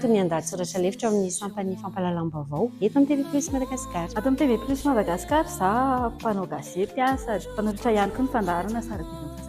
Toy ny andahatsoratra lefitra ao amin'ny sampan'ny fampahalalam-baovao eto amin'ny TV Plus Madagascar. Ato amin'ny TV Plus Madagascar, za mpanao gazety sady mpanolotra ihany koa ny fandaharana sy ara-bidy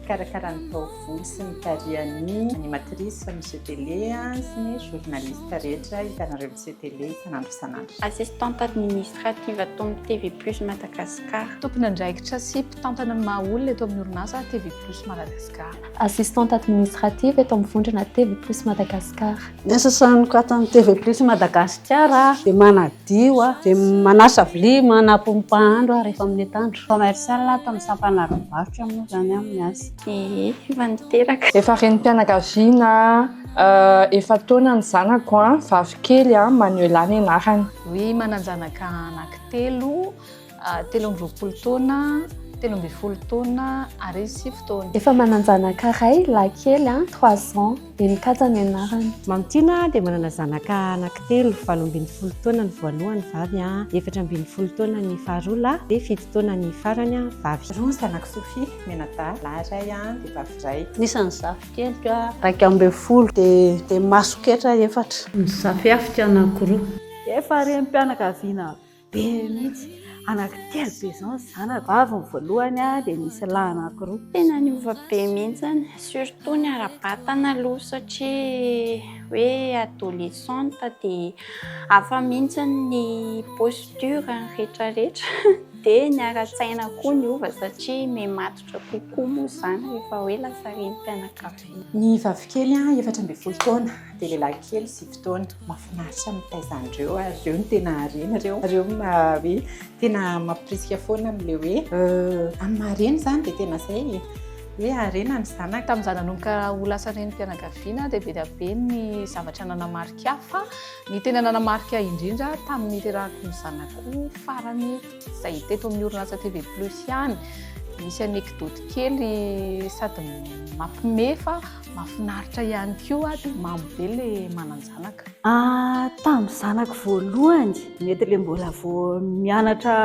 Mikarakara ny taovolo sy ny tarehan'ny animatrice Monsieur Télé sy ny journaliste rehetra hitanareo Monsieur Télé isan'andro isan'andro. Assistante administrative ato amin'ny TV Plus Madagascar. Tompon'andraikitra sy Mpitantana ny maha olona eto amin'ny orinasa TV Plus Madagascar. Assistante administrative eto amin'ny vondrona TV Plus Madagascar. Ny asa sahaniko ato amin'ny TV Plus Madagascar dia manadio aho, dia manasa vilia, manapy ny mpahandro aho rehefa amin'ny atoandro. Commercial ato amin'ny sampana ara-barotra moa izany aho no miasa. Ehe, efa niteraka. Efa renim-pianakaviana efa taona ny zanako, vavikely, Manuela ny anarany. Oui, manan-janaka anankitelo. telo amby roapolo taona, telo ambin'ny folo taona ary sivy taona. Efa manan-janaka iray, lahy kely an, trois ans, Heninkaja ny anarany. Mamintiana dia manana zanaka anankitelo, valo ambin'ny folo taona ny voalohany, vavy an, efatra ambin'ny folo taona ny faharoa, lahy, dia fito taona ny farany an, vavy. Roa zanako Sophie, mianadahy, lahy iray an, dia vavy iray. Ny isan'ny zafikeliko an, iraika ambin'ny folo, dia masoketra efatra. Ny zafihafiko anankiroa. Efa renim-pianakaviana. be mihitsy anaky telo be zao ny zanako avy ny voalohany a dia misy lahy anaky roa tena niova be mihitsy surtout ny ara-batana aloha satria hoe adolescente dia hafa mihitsy ny posture ny rehetra rehetra dia ny ara-tsaina koa niova satria me matotra kokoa moa izany rehefa hoe lasa renim-pianakaviana Ny vavikely efatra ambin'ny folo taona dia lehilahy kely sivy taona. Mahafinaritra ny mitaiza an'ireo ary ireo no tena harena ireo. Ireo no hoe tena mampirisika foana amin'ilay hoe amin'ny maha reny izany dia tena izay e, hoe harena ny zanaka. Tamin'izaho nanomboka ho lasa renim-pianakaviana dia be dia be ny zavatra nanamarika ahy fa ny tena nanamarika ahy indrindra tamin'ny niterahako ny zanako farany, Izay hita eto amin'ny orinasa TV Plus ihany. Misy anekdoty kely sady mampime fa mafinaritra ihany koa dia mamo be le manan-janaka. Ah, tamin'ny zanako voalohany, mety le mbola vao mianatra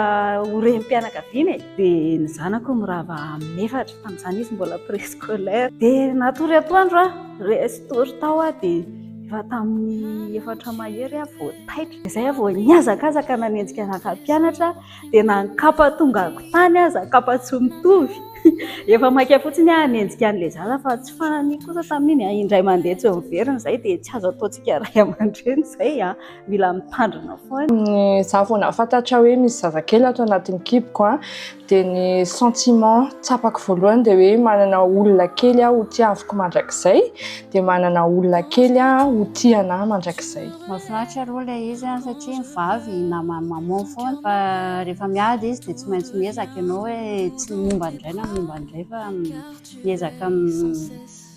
ho renim-pianakaviana e, dia ny zanako mirava amin'ny efatra, tamin'izany izy mbola préscolaire. Dia natory atoandro aho, resy tory tao aho dia efa tamin'ny efatra mahery aho vao taitra. Izay vao nihazakazaka nanenjika anaka mpianatra dia na ny kapa tonga akontany aza, kapa tsy mitovy, efa maika fotsiny aho hanenjika an'ilay zaza fa tsy fananiko kosa tamin'iny. Indray mandeha tsy miverina izay dia tsy azo ataontsika ray aman-dreny izay, mila mitandrina foana. Izaho vao nahafantatra hoe misy zazakely ato anatin'ny kiboko. Dia ny sentiment tsapako voalohany dia hoe manana olona kely aho ho tiaviko mandrakizay, dia manana olona kely aho ho tia anah mandrakizay. Mahafinaritra aloha ilay izy an, satria ny vavy naman'i maman foana, fa rehefa miady izy dia tsy maintsy miezaka ianao hoe tsy momba an'izay na momba an'izay fa miezaka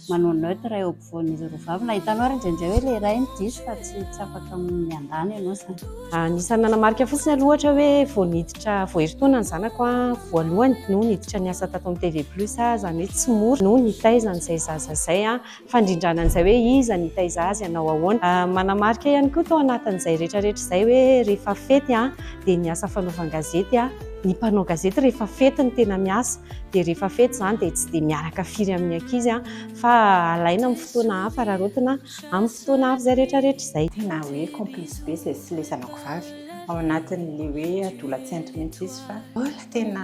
manao neutre eo ampovoan'izy roa vavy. Nahitanao ary indraindray hoe ilay iray no diso fa tsy tsy afaka miandany ianao izany. Anisan'ny nanamarika fotsiny aloha ohatra hoe vao niditra vao herintaona ny zanako voalohany no niditra niasa tato amin'ny TV Plus aho, izany hoe tsy mora no nitaiza an'izay zaza izay. Fandrindrana an'izay hoe iza nitaiza azy, hanao ahoana. Manamarika ihany koa tao anatin'izay rehetrarehetra izay hoe rehefa fety dia niasa fanaovan-gazety aho. Ny mpanao gazety rehefa fety no tena miasa. dia rehefa fety izany dia tsy dia miaraka firy amin'ny ankizy an, fa alaina amin'ny fotoana hafa rarotina amin'ny fotoana hafa izay rehetra rehetra izay. Tena hoe complice be izay sy ilay zanako vavy ao anatin'ilay hoe adolatsento mihitsy izy fa mbola tena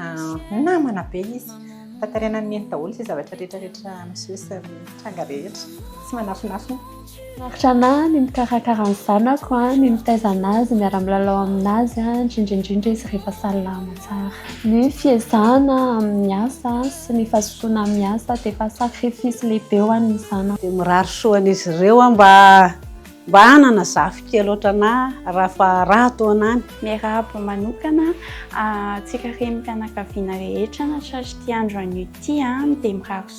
namana be izy fa tarainan'ny neny daholo izay zavatra rehetra rehetra miseho sy mitranga rehetra tsy manafinafina. Mahafinaritra anahy ny mikarakara ny zanako, ny mitaiza an'azy, miara-milalao amin'azy, indrindra indrindra izy rehefa salama tsara. Ny fiezahana amin'ny asa sy ny fazotoana amin'ny asa dia efa sacrifice lehibe ho an'ny zanako. Dia mirary soa an'izy ireo aho mba mba hanana zafikely ohatran'ahy raha fa raha toa an'ahy ny. Miarahaba manokana antsika renim-pianakaviana rehetra na tratry ity andro anio ity dia mirary soa.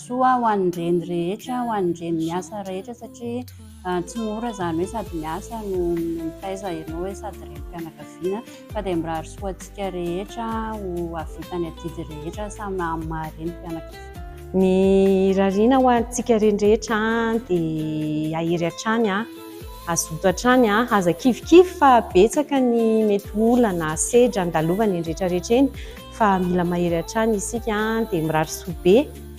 soa ho an'ny reny rehetra, ho an'ny reny miasa rehetra satria tsy mora izany hoe sady miasa no mitaiza ianao hoe sady renim-pianakaviana fa dia mirary soa antsika rehetra ho hahavita ny adidy rehetra samy amin'ny maha renim-pianakaviana. Ny irariana ho antsika reny rehetra dia hahery hatrany, hazoto hatrany, aza kivikivy fa betsaka ny mety olana, sedra andalovany eny rehetra rehetra eny. fa mila mahery hatrany isika dia mirary soa be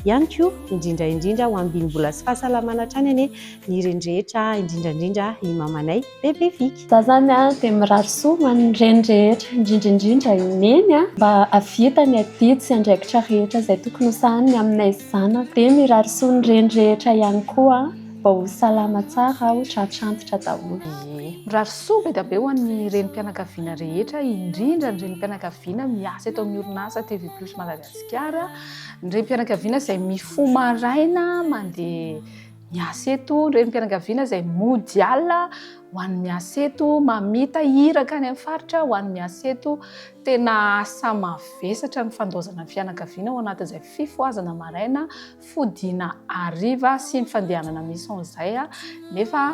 ihany koa indrindra indrindra ho ambiny vola sy fahasalamana hatrany anie ny reny rehetra indrindra indrindra i mamanay bebe viky. Za zany a de mirary soa ho an'ny reny rehetra indrindra indrindra i neny a mba ahavita ny adidy sy andraikitra rehetra izay tokony ho sahaniny aminay zanaka de mirary soa ny reny rehetra ihany koa. Mba ho salama tsara aho, tratra antitra daholo ee. Mirary soa be dia be ho an'ny renim-pianakaviana rehetra, indrindra ny renim-pianakaviana miasa eto amin'ny orinasa TV Plus Madagasikara, ny renim-pianakaviana izay mifoha maraina mandeha miasa eto, ny renim-pianakaviana izay mody alina ho an'ny miasa eto, mamita iraka any amin'ny faritra ho an'ny miasa eto. Tena asa mavesatra ny fandaozana ny fianakaviana ao anatin'izay fifohazana maraina. fodiana hariva sy ny fandehanana mission izay nefa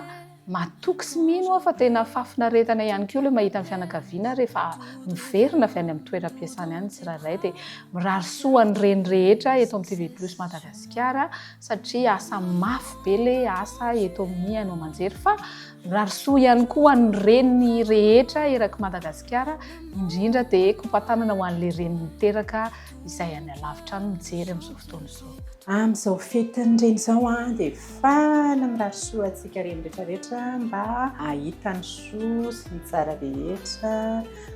matoky sy mino aho fa tena fahafinaretana ihany koa ilay mahita ny fianakaviana rehefa miverina avy any amin'ny toeram-piasana ihany ny tsirairay dia mirary soa ny reny rehetra eto amin'ny TV Plus Madagasikara satria asa mafy be le asa eto amin'ny haino aman-jery fa mirary soa ihany koa ny reny rehetra eraky Madagasikara indrindra dia kopatanana ho an'ilay reny miteraka izay any alavitra any mijery amin'izao fotoana izao. Amin'izao fetin'ny reny izao an, dia faly mirary soa antsika reny rehetra rehetra mba hahita ny soa sy ny tsara rehetra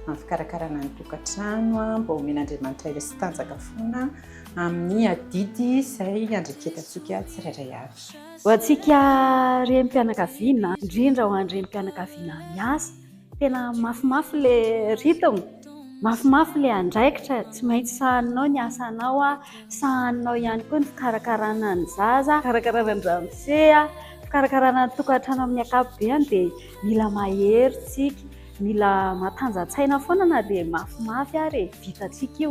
amin'ny fikarakarana ny tokantrano an, mba omen'Andriamanitra aina sy tanjaka foana amin'ny adidy izay iandreketantsika tsirairay avy. Ho antsika renim-pianakaviana, indrindra ho an'ny renim-pianakaviana miasa. tena mafimafy le rythme mafimafy le andraikitra tsy maintsy sahaninao ny asanao a sahaninao ihany koa ny fikarakarana ny zaza fikarakarana ny ramose a fikarakarana ny tokantrano amin'ny akapobeany dia mila mahery tsika mila matanjantsaina foana na dia mafimafy ary e vitantsika io